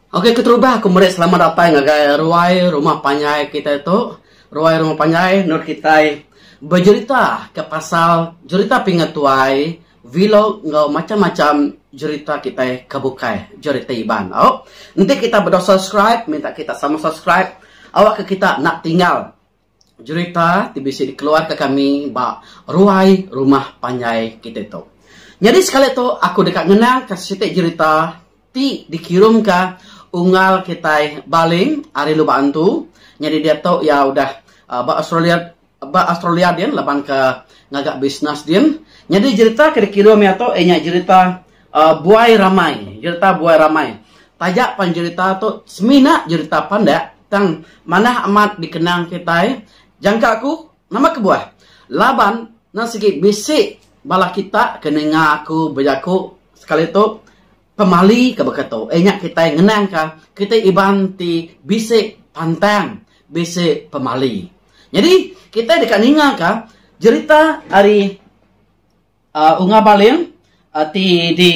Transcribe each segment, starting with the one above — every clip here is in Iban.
Ok keterubah aku meri selamat datai ngagai ruai rumah panjai kitai tu. Ruai rumah panjai menurut kitai bejerita ka pasal jerita pinga tuai, vlog enggau macam-macam jerita kitai ka bukai jerita Iban. Au enti kitai bedau subscribe minta kitai sama subscribe awakka kitai enda tinggal jerita ti bisi dikeluarka kami ba ruai rumah panjai kitai tu. Nyadi sekali tu aku deka ngenangka siti jerita ti dikirumka unggal kitai Baling ari Lubak Antu. Nyadi diatu iya udah ba Australia ba Australia din labanka ngaga bisnes din. Nyadi jerita ke dikirum iya tu iya nya jerita. uh, buai ramai, jerita buai ramai. Taja pan jerita tu semina jerita pandak tang manah amat dikenang kitai. Jangka aku, nama kebuah? Laban nan sigi bisi bala kita ke ninga aku bejaku sekali tu pemali ke baka tu. Eh nya kitai ngenangka kitai Iban ti bisi pantang, bisi pemali. Nyadi kitai deka ningaka jerita ari Uh, unga baling uh, ti di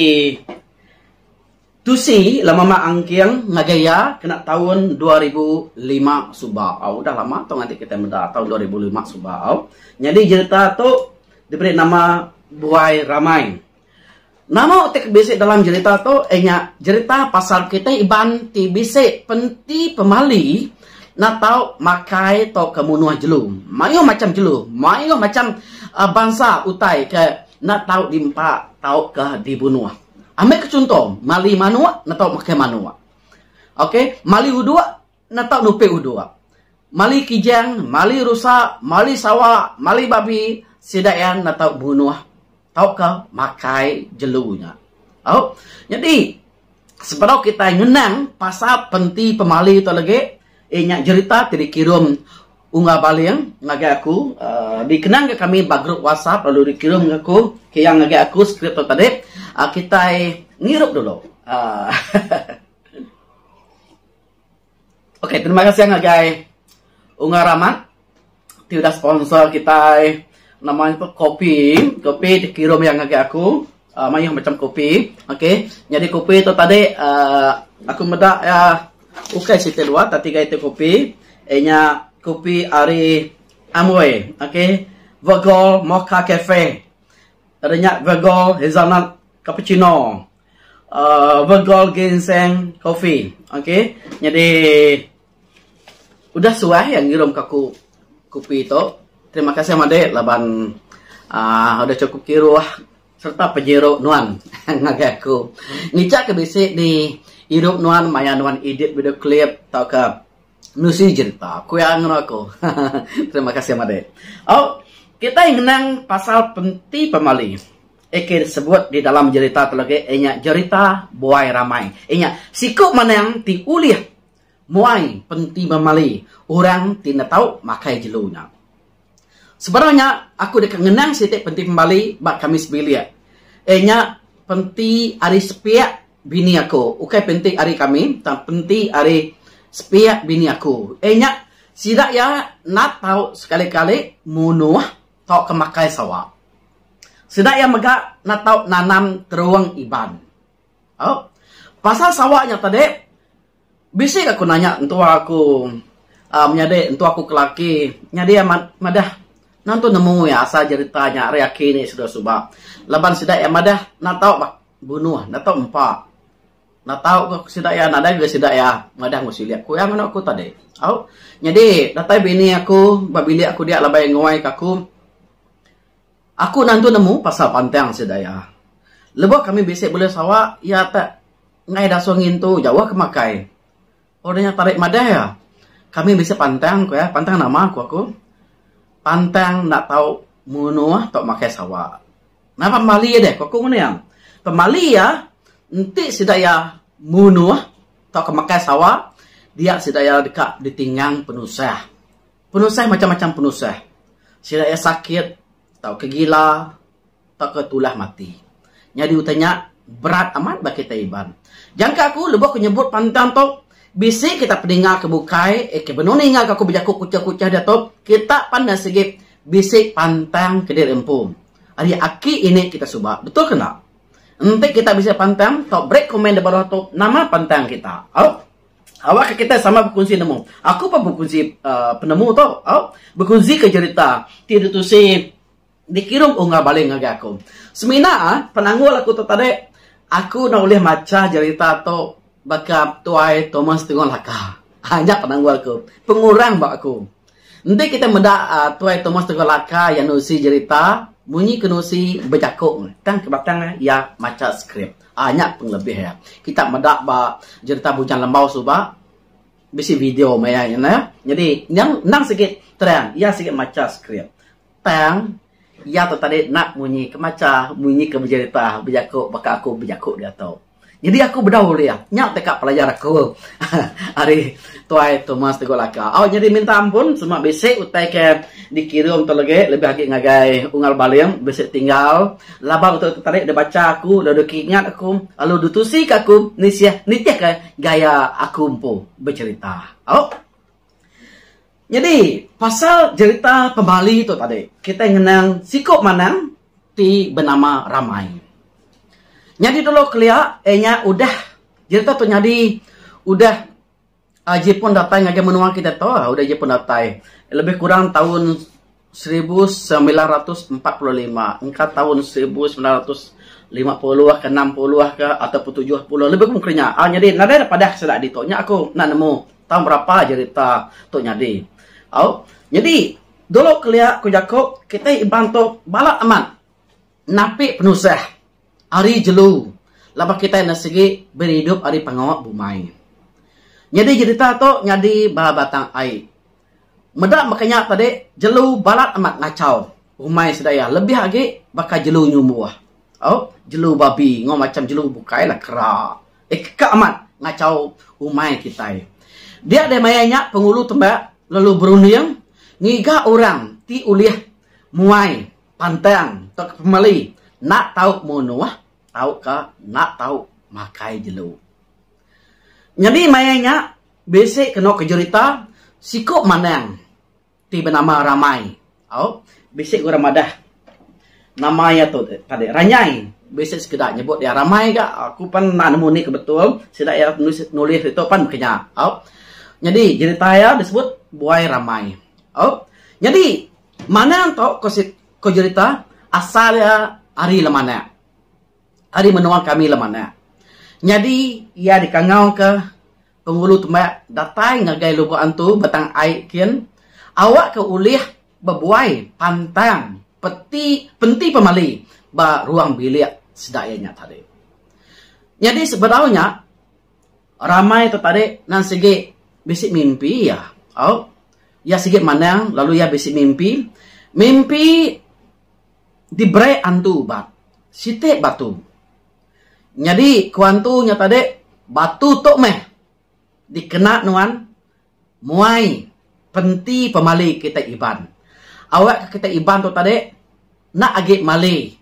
tusi lama mak angking ngagai iya kena taun 2005 suba. Au udah lama tu nganti kita meda taun 2005 suba au. Nyadi jerita tu diberi nama Buai Ramai. Nama ti bisi dalam jerita tu inya jerita pasal kitai Iban ti bisi penti pemali Enda tau makai tauka munuh jelu. Mayuh macham jelu, mayuh macham bansa utai ke enda tau diempa tauka dibunuh. Ambi ke chunto, mali manuk enda tau makai manuk. Ok, mali uduk enda tau nupi uduk. Mali kijang, mali rusa, mali sawa, mali babi, sida iya enda tau bunuh. tauka makai jelu nya. Au. Nyadi sebedau kitai ngenang pasal penti pemali tu legi iya nya jerita ti dikirum Unggal Baling ngagai aku aaa dikenangka kami ba grup WhatsApp lalu dikirum ngagai aku kiyang ngagai aku skrip tu tadi aaa kitai ngirup dulu aaa. Ok terima kasih ngagai Unga Ramat ti udah sponsor kitai nama nya pun kopi, kopi dikirum iya ngagai aku uh, mayuh macam kopi. Ok nyadi kopi tu tadi uh, aku meda iya ukai siti dua tapi tiga iti kopi iya nya kopi ari Amway. Ok Virgol Mocha Cafe. Ada nya Virgol Hazelnut Cappuccino. Uh, Virgol Ginseng Coffee. Okay. Jadi, udah suah yang ngirum ke aku kopi tu. Terima kasih madik laban uh, udah cukup kiruh serta penyiru nuan ngagai aku. Ngicak ke bisi ni irup nuan maya nuan edit video clip tau ke nusi jerita. Aku yang ngeru aku. Terima kasih madik. Oh, kita ngenang pasal penti pemali. Eke disebut di dalam jerita tu lagi iya nya jerita buai ramai. Iya nya siku manang ti ulih muai penti memali orang ti enda tau makai jelu nya. Sebedau nya aku deka ngenang siti penti pemali ba kami sebilik. Iya nya penti ari sepiak bini aku. Ukai penti ari kami tang penti ari sepiak bini aku. Iya nya sida iya enda tau sekali-kali munuh tauka makai sawa. Sida iya mega enda tau nanam terung Iban. Au. Pasal sawa nya tadi bisi ga ku nanya entua aku aaa menyadi entua aku ke laki nyadi iya madah nan tu nemu iya asal jerita nya ari aki ne suba suba laban sida iya madah enda tau bunuh enda tau empa. Enda tau ga ku sida iya, nadai ga sida iya madah enggau silik aku. Iya nganu aku tadi. Au nyadi datai bini aku ba bilik aku dia labai nguai ka aku. Aku nantu nemu pasal pantang sida iya. Lebuh kami bisi bulih sawa iya tak enggai dasuh ngintu jauh ke makai. Orang nya parit madah iya, Kami bisi pantang ku iya, pantang nama ku aku? Pantang enda tau munuh tau makai sawa. Nang pemali iya deh ku aku ngena iya. Pemali iya enti sida iya munuh tauka makai sawa dia sida iya deka ditingang penusah. Penusah macam-macam penusah. Sida iya sakit. tauka gila tauka tulah mati. Nyadi utai nya berat amat ba kitai Iban. Jangka aku lebuh aku nyebut pantang tu, bisi kita pedinga ke bukai eh ke benoni enggau aku bejaku kuchah-kuchah diatu, kita pan enda sigi bisi pantang ke diri empu. Ari aki ini kita suba, betul ke enda? Enti kita bisi pantang, tau beri komen di baruh tu nama pantang kita. Au. Awakka kitai sama bekunsi nemu. Aku pun bekunsi penemu tu. Au, bekunsi ke jerita ti ditusi dikirung Unggal Baling ngagai aku. Semina penanggul aku tu tadi, aku enda ulih macha jerita tu baka Tuai Thomas Tunggal Laka. Ha, nya penanggul aku. Pengurang ba aku. Enti kitai meda Tuai Thomas Tengku Laka iya nusi jerita, munyi ke nusi bejaku tang ke batang iya macha skrip. Aaa nya pengelebih iya. Kita meda ba jerita Bujang Lembau suba bisi video maya nya. Nyadi nyang endang sigi terang iya sigi macha skrip tang. Iya tu tadi nap munyi ke macha, munyi ke bejerita, bejaku baka aku bejaku dia tu. Nyadi aku bedau ulih. Nya teka pelajar aku ari Tuai Thomas Teguh Laka. Au nyadi minta ampun sema bisi utai ke dikira ento legi lebih agi ngagai Unggal Baling bisi tinggal laban utai tu tadi deh bacha aku lalu deh keingat aku lalu deh tusi ke aku nisih nitihka gaya aku empu bejerita. Au. Nyadi, pasal jerita pemali tu tadi, kitai ngenang siku manang ti benama Ramai. Nyadi dulu kelia iya nya udah jerita tu nyadi udah aji pun datai ngagai menua kitai tu, udah aji pun datai lebih kurang taun seribu semilan ratus empat puluh lima engka taun seribu semilan ratus lima puluh ke enam puluh ke atau pun tujuh puluh lebih kurang ke nya au nyadi nadai da padah sida agi tu nya aku enda nemu taun berapa jerita tu nyadi au nyadi dulu kelia ku jaku kitai Iban tu balat amat. Napi penusah ari jelu laban kitai enda sigi beridup ari pengawa bumai. Nyadi jerita tu nyadi ba batang ai. Meda baka nya tadi, jelu balat amat ngachau umai sida iya lebih agi baka jelu nyumbuh. Au, jelu babi enggau macham jelu bukai lah kera. Eka amat ngachau umai kitai. Dia deh maya nya Pengulu Tembak lalu berunding ngiga orang ti ulih muai. Pantang tauka pemali enda tau munuh tauka enda tau makai jelu. Nyadi maya nya bisi kenu ke jerita siku manang ti benama Ramai. Au bisi ke orang madah nama iya tu tadi Ranyai bisi sekeda nyebut iya Ramai ga aku pan enda nemu nih ke betul sida iya nulis ditu pan meh ke nya. Au nyadi jerita iya disebut Buai Ramai. Au nyadi Manang tu ko si ko jerita asal iya ari Lemanak. Ari menua kami Lemanak. Nyadi iya dikangau ke Pengulu Tembak datai ngagai Lubok Antu Batang Ai kin awak ke ulih bebuai pantang peti penti pemali ba ruang bilik sida iya nya tadi. Nyadi sebedau nya. Ramai tu tadi nan sigi bisi mimpi iya. Au. Iya sigi manang lalu iya bisi mimpi. Mimpi diberi antu ubat. Siti batu. Nyadi ku antu nya tadi batu tu meh dikena nuan. Muai penti pemali kitai Iban. Awak ke kitai Iban tu tadi enda agi mali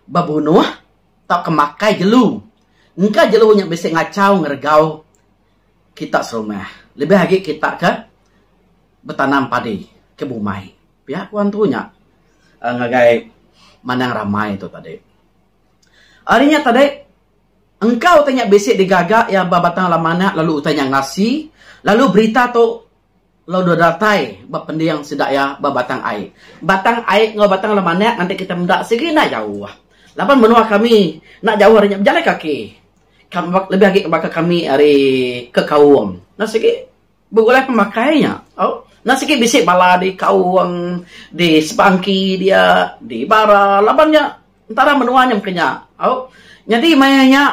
bebunuh tauka makai jelu. Engka jelu nya bisi ngachau ngeregau kita serumah. Lebih agi kita ke betanam padi ke bumai. Pia ku antu nya ngagai Mandang Ramai tu tadi. Ari nya tadi. Engkau utai nya bisi digaga iya ba batang laman nya lalu utai nya ngasi lalu berita tu lalu dua datai ba pending sida iya ba batang ai. Batang ai enggau batang laman nya ngagai kita meda sigi enda jauh. Laban menua kami enda jauh ari nya bejalai kaki. Lebih agi baka kami ari ke Kaung enda sigi. Begulai pemakai nya, enda sigi bisi bala di kaung, di sebangki dia, di bara laban nya entara menua nya mungkin nya. Nyadi maya nya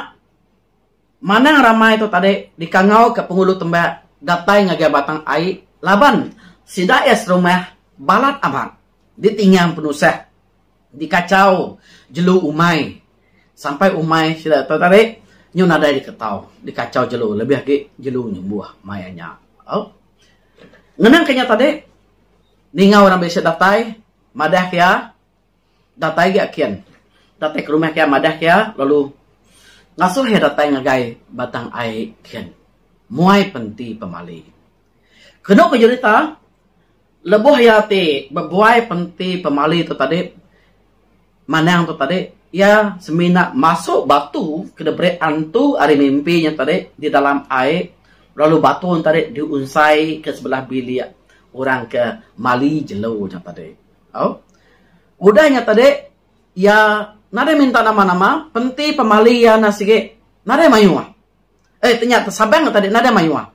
manang ramai tu tadi dikangauka Pengulu Tembak datai ngagai Batang Ai laban sida iya serumah balat amat ditinggang penusah. dikachau jelu umai sampai umai sida tu tadi nyu nadai diketau dikachau jelu lebih agi jelu nyembuh mai nya au ngenang ka nya tadi ninga orang bisi datai madah ke iya datai agi kin datai ke rumah ke iya madah ke iya lalu ngasuh iya datai ngagai batang ai kin muai penti pemali kenu ku jerita Lebuh iya ti bebuai penti pemali tu tadi manang tu tadi iya semina masuk batu ke diberi antu ari mimpi nya tadi di dalam ai lalu batu nya tadi diunsai ke sebelah bilik orang ke mali jelu nya tadi tau. Udah nya tadi iya nadai minta nama-nama penti pemali iya nya sigi nadai mayuh. eh tanya tu Sabang ke tadi nadai mayuh ah.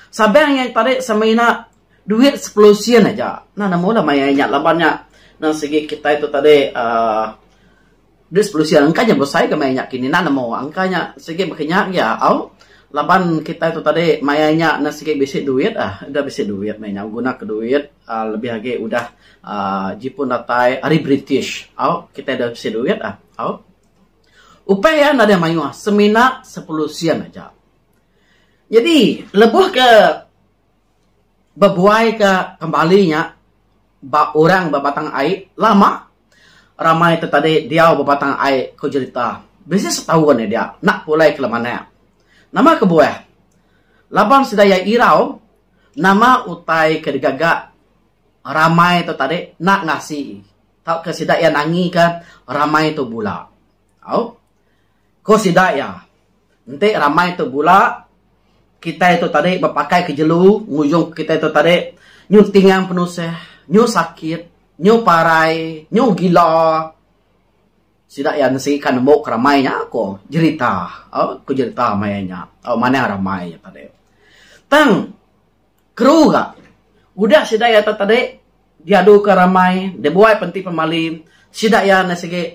Sabang iya tadi sama ina duit sepuluh sen aja. Nah nama ulah mayar inya laban nya nan sigi kitai tu tadi uhh duit sepuluh sen engka nya besai ga mayar inya kini. Nah nama ulah engka nya sigi baka nya aja au laban kitai tu tadi mayar inya nan sigi bisi duit ah udah bisi duit meh inya guna ka duit uhh lebih agi udah uhh jipun datai ari British au kitai dah bisi duit ah au. Upai iya nadai mayuh, semina sepuluh sen aja. Nyadi lebuh ke bebuai ke kembali nya ba orang ba Batang Ai lama ramai ti tadi diau ba Batang Ai ku jerita bisi setaun iya dia enda pulai ke lemanak. Nama kebuah laban sida iya irau nama utai ke digaga ramai tu tadi enda ngasi. tauka sida iya nangika ramai tu bula. Au. Ku sida iya, enti ramai tu bula, kitai tu tadi bepakaika jelu ngujungka kitai tu tadi nyu tingang penusah, nyu sakit, nyu parai, nyu gila. Sida iya ngesika nemu ke ramai nya, ku jerita. Au, ku jerita maya nya. Au, manah ramai nya tadi. Tang. Kru ga udah sida iya tak tadi diadu ka ramai dibuai penti pemali sida iya enda sigi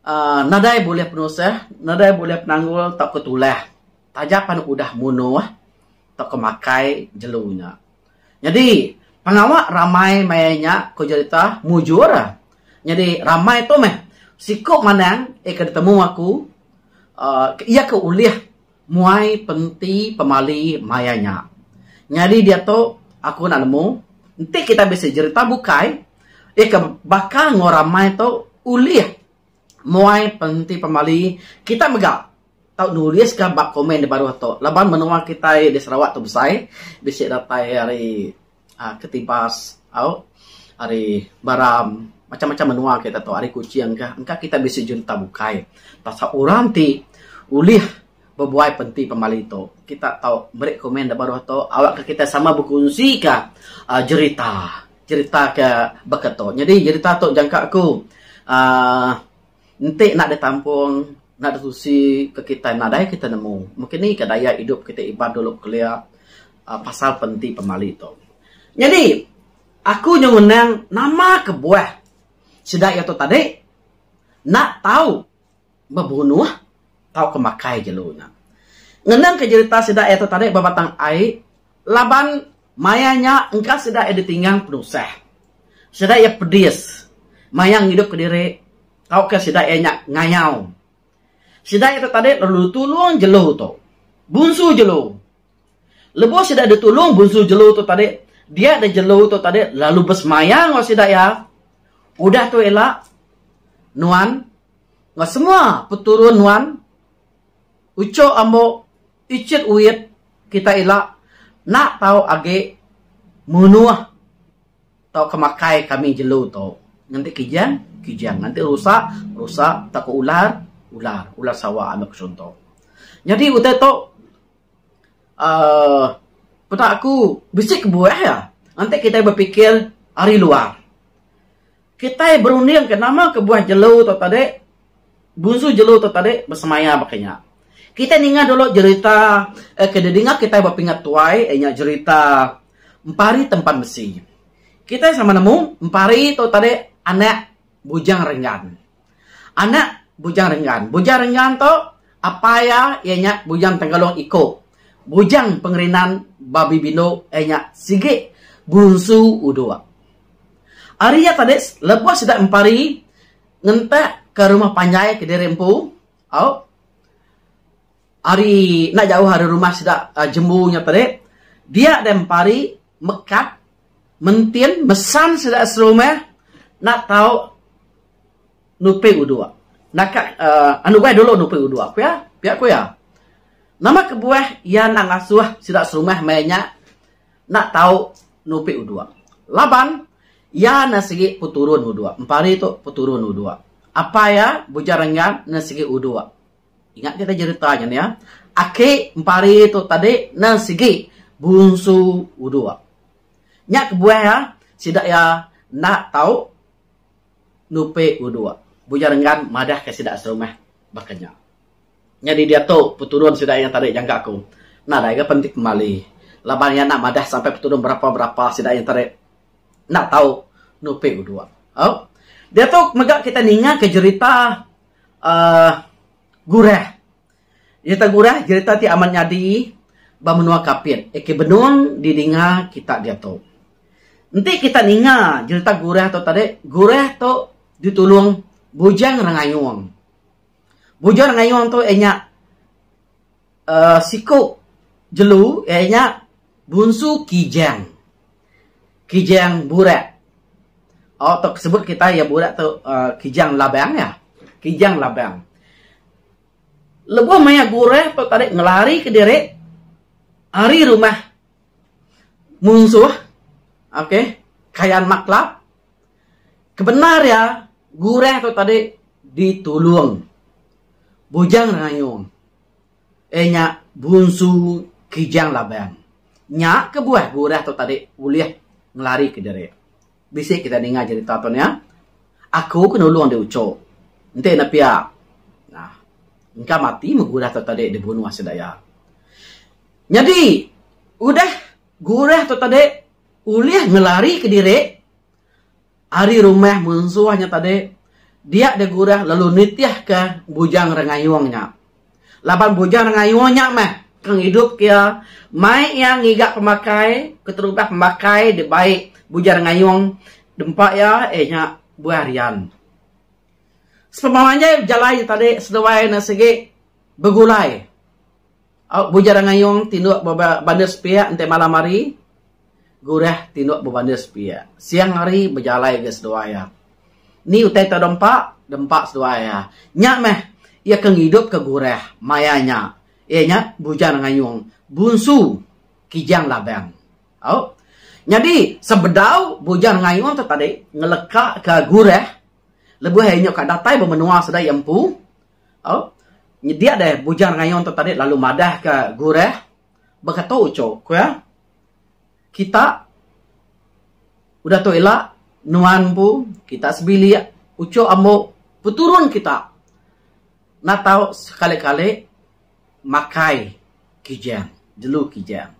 uhh nadai bulih penusah nadai bulih penanggul tau ka tulah taja pan udah munuh tau ka makai jelu nya. Nyadi pengawa ramai maya nya ku jerita mujur nyadi ramai tu meh siku manang iya ke ditemu aku uhh iya ke ulih. Muai penti pemali maya nya. Nyadi diatu aku enda nemu enti kitai bisi jerita bukai iya ke baka enggau ramai tu ulih muai penti pemali kitai mega tau nuliska ba komen dibaruh tu laban menua kitai di Sarawak tu besai bisi datai ari uhh ketibas au ari Baram, macam macam menua kita tu ari Kuching ka engka kita bisi junta bukai pasal orang ti ulih bebuai penti pemali tu. Kita tau meri komen da baruh tu awak ka kita sama bekunsi ka uhh jerita jerita ka baka tu. Nyadi jerita tu jangka ku uhh. Enti enda di tampung, enda di tusi ke kitai nadai kitai nemu meh kini ka daya idup kitai Iban dulu kelia aaa pasal penti pemali tu. Nyadi aku nyau ngenang nama kebuah sida iya tu tadi enda tau bebunuh tauka makai jelu nya. Ngenang ke jerita sida iya tu tadi ba Batang Ai laban maya nya engka sida iya ditinggang penusah, sida iya pedis maya ngidup ke diri tauka sida iya nya ngayau. Sida iya tu tadi lalu ditulung jelu tu, bunsu jelu. Lebuh sida ditulung bunsu jelu tu tadi, dia da jelu tu tadi lalu besemaya enggau sida iya. Udah tu ila nuan enggau semua peturun nuan, uchu ambo. Ichet Uit kita ila nak tau agi munuh tauka makai kami jelu tu nganti kijang kijang nganti rusa rusa tauka ular ular ular sawa anu chunto. Nyadi utai tu uhh peda aku bisi kebuah iya nganti kitai bepikir ari luar. Kitai berundingka nama kebuah jelu tu tadi, Gunsu Jelu tu tadi besemaya baka nya. Kitai ninga dulu jerita ke didinga kitai ba pinga tuai iya nya jerita Empari Tempan Besi. Kitai sama nemu Empari tu tadi anak Bujang Renggan. Anak Bujang Renggan. Bujang Renggan tu apai iya iya nya Bujang Tenggalong Iko. Bujang Pengerinan Babi Bindu iya nya sigi Gunsu Udok. Ari iya tadi lebuh sida mempari ngentak ka rumah panjai kediri empu au ari enda jauh ari rumah sida jembu nya tadi dia deh mempari mekat mentin mesan sida serumah enda tau nupi udok naka uhh nubai dulu nupi udok pia pia ku iya. Nama kebuah iya enda ngasuh sida serumah meh nya. enda tau nupi uduk laban iya enda sigi peturun uduk empari tu peturun uduk apai iya Bujang Renggang enda sigi uduk ingat ke tadi jerita nya iya aki empari tu tadi enda sigi bunsu uduk nya kebuah iya sida iya enda tau nupi uduk Bujang Renggang madah ka sida serumah baka nya. Nyadi diatu peturun sida iya tadi jaga aku. Nadai ga penti pemali laban iya enda madah sampai peturun berapa-berapa sida iya tadi enda tau nupi uduk. Au. Diatu mega kitai ninga ke jerita uhh Gurah. Jerita Gurah jerita ti amat nyadi ba menua Kapit, AK Benung didinga kita diatu. Enti kita ninga jerita Gurah tu tadi, Gurah tu ditulung Bujang Rengayung. Bujur ngayung tu iya nya uhh siku jelu iya nya bunsu Kijang. Kijang Burak. Oh tok sebut kitai iya Burak tu uhh Kijang Labang iya. Kijang Labang. Lebuh maya gurah tu tadi ngelari ke diri ari rumah munsuh. Okay. Kayan Maklap. Kebendar iya, gurah tu tadi ditulung Bujang Rengayung. Eh nya Bunsu Kijang Labang. Nya kebuah gurah tu tadi ulih ngelarika diri. Bisi kitai ninga jerita tu nya. Aku ke nulung deh ucho. Enti ne pia nah engka mati meh gurah tu tadi dibunuh asil daya. Nyadi udah gurah tu tadi Ulih ngelarika diri ari rumah munsuh nya tadi dia deh Gurah lalu nitihka Bujang Rengayung nya. Laban Bujang Rengayung nya meh ke ngidupka iya, mai iya ngiga pemakai keterubah pemakai dibai Bujang Rengayung dempa iya iya nya Buah Rian. Sepemalanjai bejalai nya tadi seduai ne sigi begulai. Au Bujar Angayong tinduk ba bandar sepiak enti malam hari, Gurah tinduk ba bandar sepiak. Siang hari bejalai ga seduai iya. Ni utai tau dempa? Dempa seduai iya. Nya meh iya ke ngidupka Gurah maya nya. Iya nya Bujar Angayong, bunsu Kijang Labang. Au. Nyadi sebedau Bujar Angayong tu tadi ngelekaka Gurah lebuh iya nya ka datai ba menua sida iya empu, Au nydia deh Bujang Rayong tu tadi lalu madah ka Gurah bekatu uchu ku iya kita udah tu ila nuan empu kita sebilik uchu ambo peturun kita enda tau sekali kali makai Kijang jelu Kijang.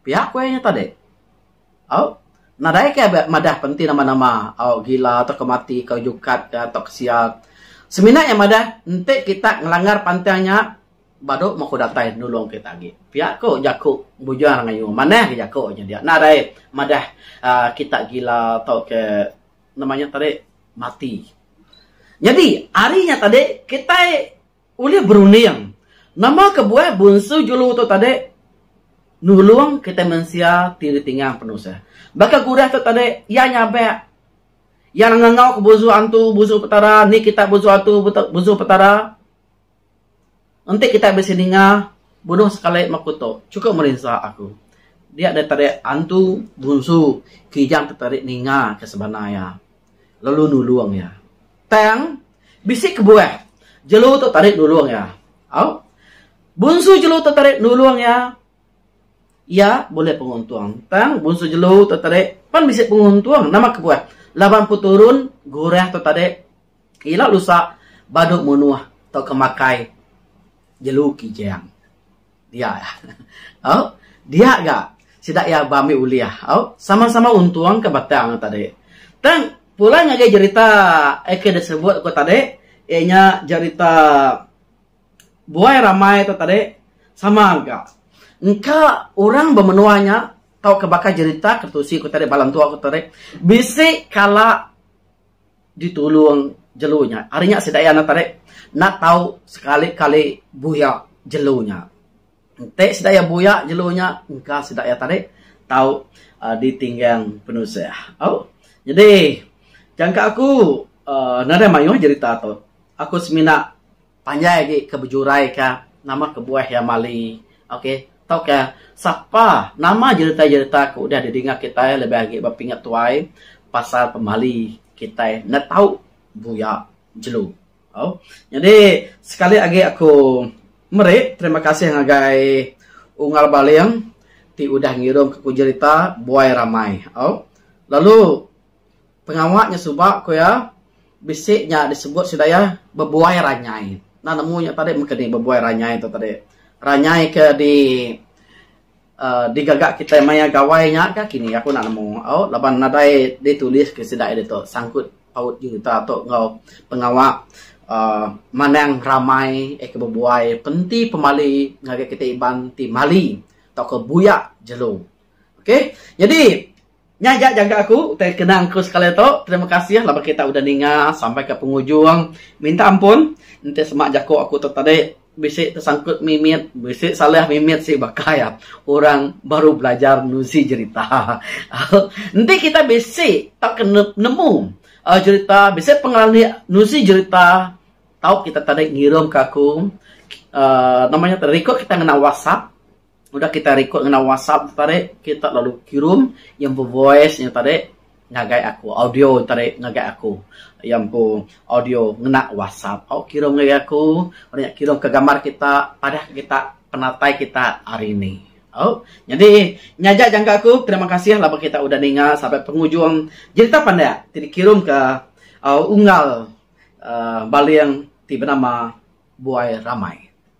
Pia ku iya nya tadi. Au, nadai ke abai madah pa enti nama-nama au gila tauka mati ka jukat ka tauka sia. Semina iya madah enti kita ngelanggar pantang nya badu moko datai nulung kita agi. Pia ku jaku Bujang Rengayuh. Manah agi jaku nya dia. Nadai madah aaa kita gila tauka nama nya tadi mati. Nyadi ari nya tadi kitai Ulih berunding, nama kebuah Bunsu Julu tu tadi nulung kitai mensia ti ditingang penusah. Baka Gurah tu tadi, iya nyabak, iya ngangau ke Bunsu Antu, Bunsu Petara, ni kita Bunsu Antu, Bunsu Petara. Enti kitai bisi ninga, bunuh sekali maku tu, chukup merinsa aku. Dia daripada Antu, Bunsu, Kijang tu tadi ninga ke sebana iya. lalu nulung iya. Tang, bisi kebuah jelu tu tadi nulung iya. Au. Bunsu jelu tu tadi nulung iya, iya bulih penguntung. Tang, bunsu jelu tu tadi pan bisi penguntung. Nama kebuah? Laban peturun gurah tu tadi, ila lusa badu munuh tauka makai jelu kijang. Dia iya. Au. Dia ga sida iya ba ambi ulih. Au. Sama-sama untung ka batang tu tadi. Tang pulai ngagai jerita eh ke disebut aku tadi iya nya jerita buai ramai tu tadi sama ga engka orang ba menua nya tauka baka jerita ketusi aku tadi bala entu aku tadi bisi kala ditulung jelu nya. Ari nya sida iya enda tarik enda tau sekali-kali buyak jelu nya. Enti sida iya buyak jelu nya engka sida iya tadi tau aaa ditinggang penusah. Au jadi jangka aku aaa nadai mayuh jerita tu. Aku semina Panjai agi ke bejurai ka nama kebuah iya mali ok tauka sapa nama jerita jerita ke udah didinga kitai lebih agi ba pinga tuai pasal pemali kitai enda tau buya jelu au nyadi sekali agi aku meri terima kasih ngagai Unggal Baling ti udah ngirum aku jerita buai ramai au lalu. Pengawa nya suba ku iya, bisi nya disebut sida iya bebuai ranyai. Enda nemu nya tadi meh keni bebuai ranyai tu tadi. Ranyai ke di uhh digaga kitai maya gawai nya ka kini aku enda nemu au laban nadai ditulis ke sida iya ditu sangkut paut juta tu enggau pengawa uhh manang ramai eh ke bebuai penti pemali ngagai kitai Iban ti mali tauka buya jelu. Okay. Nyadi. Nya aja jaga aku utai kenang aku sekali tu. Terima kasih laban kita udah ninga sampai ke pengujung. Minta ampun enti sema jaku aku tu tadi bisi tesangkut mimit, bisi salah mimit sih baka iya orang baru belajar nuzi jerita. Enti kita bisi tauka nemu aaa jerita, bisi pengelan andi nuzi jerita tau kita tadi ngirum ka aku aaa nama nya tu record kita ngena whatsapp. Udah kita record ngena WhatsApp tu tadi, kita lalu kirum iya empu voice nya tadi ngagai aku, audio nya tadi ngagai aku. Iya empu audio ngena WhatsApp. Au kirum ngagai aku, udah nya kirum ka gambar kita, padahka kita penatai kita hari ini. Au. Nyadi, nya aja jangka aku. Terima kasih laban kita udah ninga sampai pengujung jerita pandak ti dikirumka unggal uhh baling ti benama Buai Ramai.